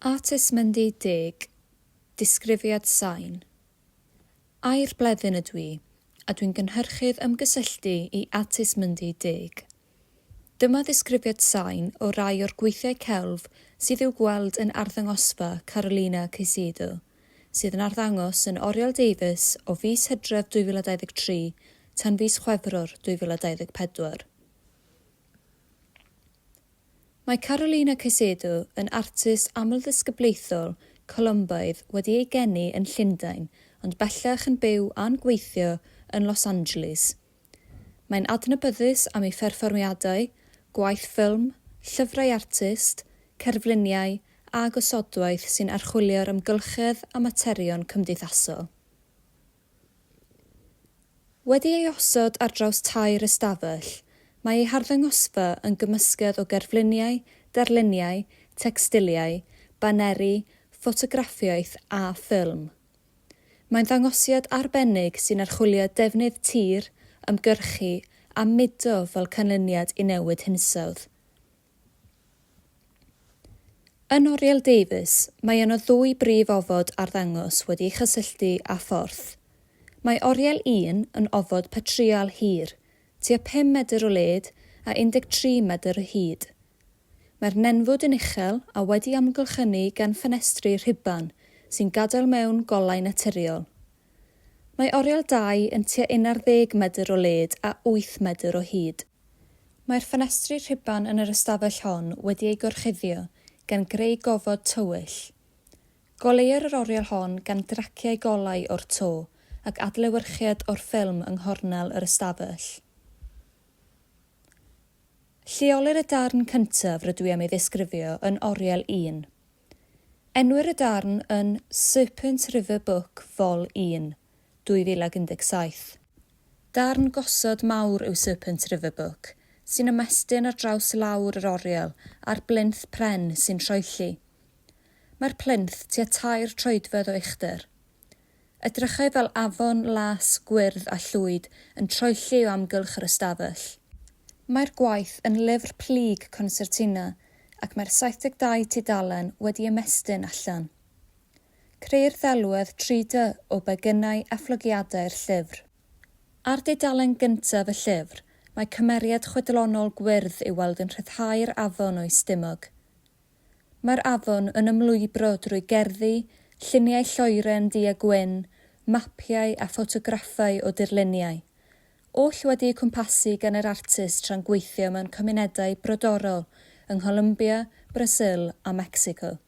At ysmynd i deg, disgrifiad sain. Air bleddyn ydw i, a dwi'n gynhyrchydd ymgysylltu i At ysmynd i deg. Dyma ddisgrifiad sain o rai o'r gweithiau celf sydd i'w gweld yn arddangosfa Carolina Caicedo, sydd yn arddangos yn Oriel Davies o fis Hydref 2023 tan fis Chwefror 2024. Mae Carolina Caicedo yn artist amlddisgyblaethol Colombaidd wedi ei geni yn Llundain ond bellach yn byw a'n gweithio yn Los Angeles. Mae'n adnabyddus am ei pherfformiadau, gwaith ffilm, llyfrau artist, cerfluniau a gosodwaith sy'n archwilio'r amgylchedd a materion cymdeithasol. Wedi ei osod ar draws tair ystafell, mae ei harddangosfa yn gymysgedd o gerfluniau, darluniau, tecstiliau, baneri, ffotograffiaeth a ffilm. Mae'n ddangosiad arbennig sy'n archwilio defnydd tir, ymgyrchu a mudo fel canlyniad i newid hinsawdd. Yn oriel Davies, mae yno ddwy brif ofod arddangos wedi'u chysylltu â phorth. Mae oriel un yn ofod patrial hir, tua pum medr o led a 13 medr o hyd. Mae'r nenfwd yn uchel a wedi amgylchynu gan ffenestri rhuban sy'n gadael mewn golau naturiol. Mae oriel dau yn tua unarddeg medr o led a wyth medr o hyd. Mae'r ffenestri rhuban yn yr ystafell hon wedi eu gorchuddio gan greu gofod tywyll. Goleuir yr oriel hon gan draciau golau o'r to ac adlewyrchiad o'r ffilm yng nghornel yr ystafell. Lleolir y darn cyntaf rydw i am ei ddisgrifio yn oriel un. Enwir y darn yn Serpent River Book Vol un. 2017. Darn gosod mawr yw Serpent River Book, sy'n ymestyn ar draws lawr yr oriel a'r blinth pren sy'n troelli. Mae'r plinth tua tair troedfedd o uchder. Edrychai fel afon las, gwyrdd a llwyd yn troelli o amgylch yr ystafell. Mae'r gwaith yn lyfr plyg consertina ac mae'r 72 tudalen wedi ymestyn allan. Creu'r ddelwedd 3D o begynau a phlygiadau'r llyfr. Ar dudalen gyntaf y llyfr, mae cymeriad chwedlonol gwyrdd i'w weld yn rhyddhau'r afon o'i stumog. Mae'r afon yn ymlwybro drwy gerddi, lluniau lloeren du a gwyn, mapiau a ffotograffau o dirluniau, oll wedi'u cwmpasu gan yr artist tra'n gweithio mewn cymunedau brodorol yng Ngholumbia, Brasil a Mecsico.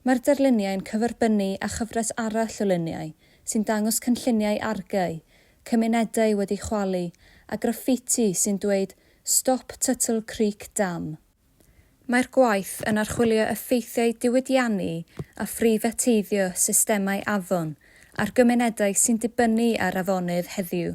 Mae'r darluniau'n cyferbynnu â chyfres arall o luniau sy'n dangos cynlluniau argae, cymunedau wedi chwalu a graffiti sy'n dweud 'Stop Tuttle Creek Dam'. Mae'r gwaith yn archwilio effeithiau diwydiannu a phreifateiddio systemau afon ar gymunedau sy'n dibynnu ar afonydd heddiw.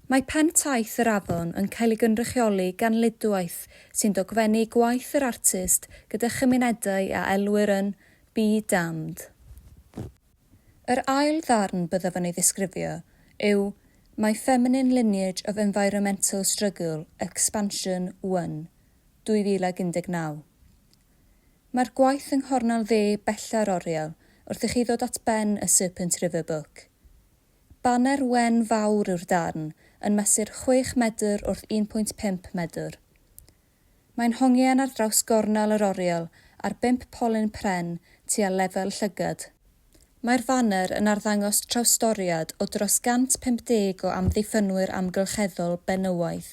Mae Pen Taith yr Afon yn cael ei gynrychioli gan Luduaeth sy'n dogfennu gwaith yr artist gyda chymunedau a elwir yn 'Be Damned'. Yr ail ddarn byddaf yn ei ddisgrifio yw 'My Feminine Lineage of Environmental Struggle, Expansion I', 2019. Mae'r gwaith yng nghornel dde bella'r oriel wrth i chi ddod at ben y Serpent River Book. Baner wen fawr yw'r darn, yn mesur chwech medr wrth 1.5 medr. Mae'n hongian ar draws gornel yr oriel ar bump polyn pren tua lefel llygad. Mae'r faner yn arddangos trawstoriad o dros 150 o amddiffynwyr amgylcheddol benywaidd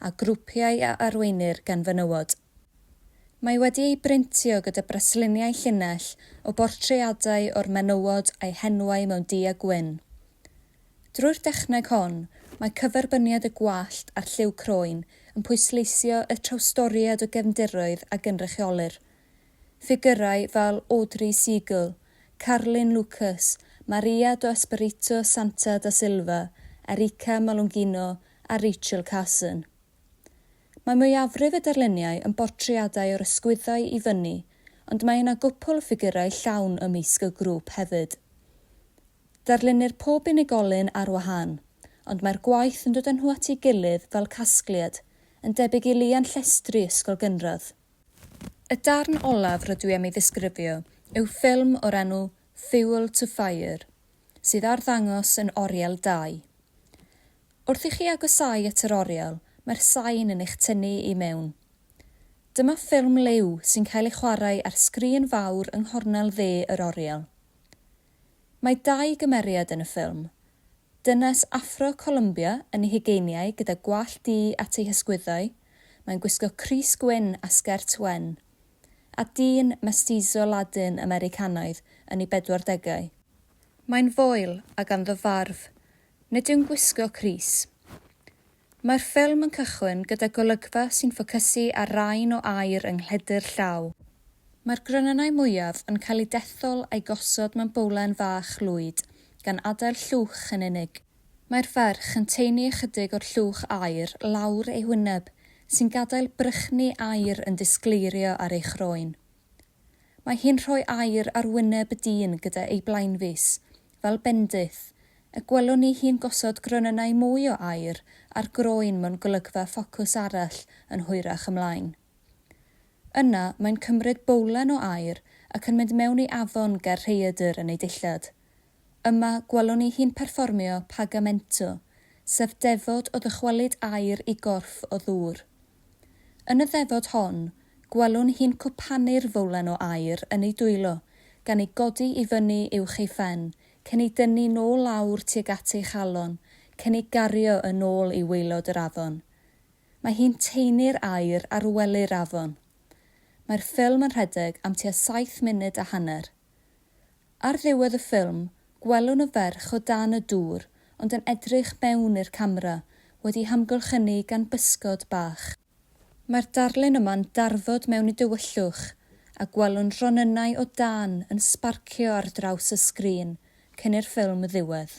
a grwpiau a arweinir gan fenywod. Mae wedi ei brintio gyda brasluniau llinell o bortreadau o'r menywod a'u henwau mewn du a gwyn. Drwy'r dechneg hon, mae cyferbyniad y gwallt a'r lliw croen yn pwysleisio y trawstoriad o gefndiroedd a gynrychiolir. Ffigyrau fel Audrey Seagull, Carlin Lucas, Maria do Espirito Santa da Silva, Erika Malungino a Rachel Carson. Mae mwyafrif y darluniau yn bortreadau o'r ysgwyddau i fyny, ond mae yna gwpwl o ffigurau llawn ymysg y grŵp hefyd. Darlunir pob unigolyn ar wahân, ond mae'r gwaith yn dod â nhw at ei gilydd fel casgliad, yn debyg i lian llestri ysgol gynradd. Y darn olaf rydw i am ei ddisgrifio yw ffilm o'r enw Fuel to Fire, sydd ar ddangos yn Oriel dau. Wrth i chi agosáu at yr oriel, mae'r sain yn eich tynnu i mewn. Dyma ffilm liw sy'n cael ei chwarae ar sgrin fawr yng nghornel dde yr oriel. Mae dau gymeriad yn y ffilm, dynes Affro-Columbia yn ei hugeiniau gyda gwallt du at ei hysgwyddau, mae'n gwisgo crys gwyn a sgert wen, a dyn mestizo Ladin-Americanaidd yn ei bedwardegau. Mae'n foel a ganddo farf. Nid yw'n gwisgo crys. Mae'r ffilm yn cychwyn gyda golygfa sy'n ffocysu ar rain o aer yng nghledr llaw. Mae'r gronynnau mwyaf yn cael eu dethol a'u gosod mewn bowlen fach lwyd, gan adael llwch yn unig. Mae'r ferch yn taenu ychydig o'r llwch aer lawr ei hwyneb, sy'n gadael brychni aer yn disgleirio ar ei chroen. Mae hi'n rhoi air ar wyneb y dyn gyda ei blaenfys, fel bendith, y gwelwn ni hi'n gosod gronynnau mwy o aer ar groen mewn golygfa ffocws arall yn hwyrach ymlaen. Yna, mae'n cymryd bowlen o aer ac yn mynd mewn i afon ger rhaeadr yn ei dillad. Yma gwelwn ni hi'n perfformio Pagamento, sef ddefod o ddychwelyd aer i gorff o ddŵr. Yn y ddefod hon, gwelwn hi'n cwpanu'r fowlen o aer yn ei dwylo, gan ei godi i fyny uwch ei phen, cyn ei dynnu nôl lawr tuag at ei chalon, cyn ei gario yn ôl i waelod yr afon. Mae hi'n taenu'r aer ar wely'r afon. Mae'r ffilm yn rhedeg am tua saith munud a hanner. Ar ddiwedd y ffilm, gwelwn y ferch o dan y dŵr ond yn edrych mewn i'r camera, wedi'i hamgylchynu gan bysgod bach. Mae'r darlun yma'n darfod mewn i dywyllwch a gwelwn ronynnau o dân yn sbarcio ar draws y sgrin cyn i'r ffilm ddiwedd.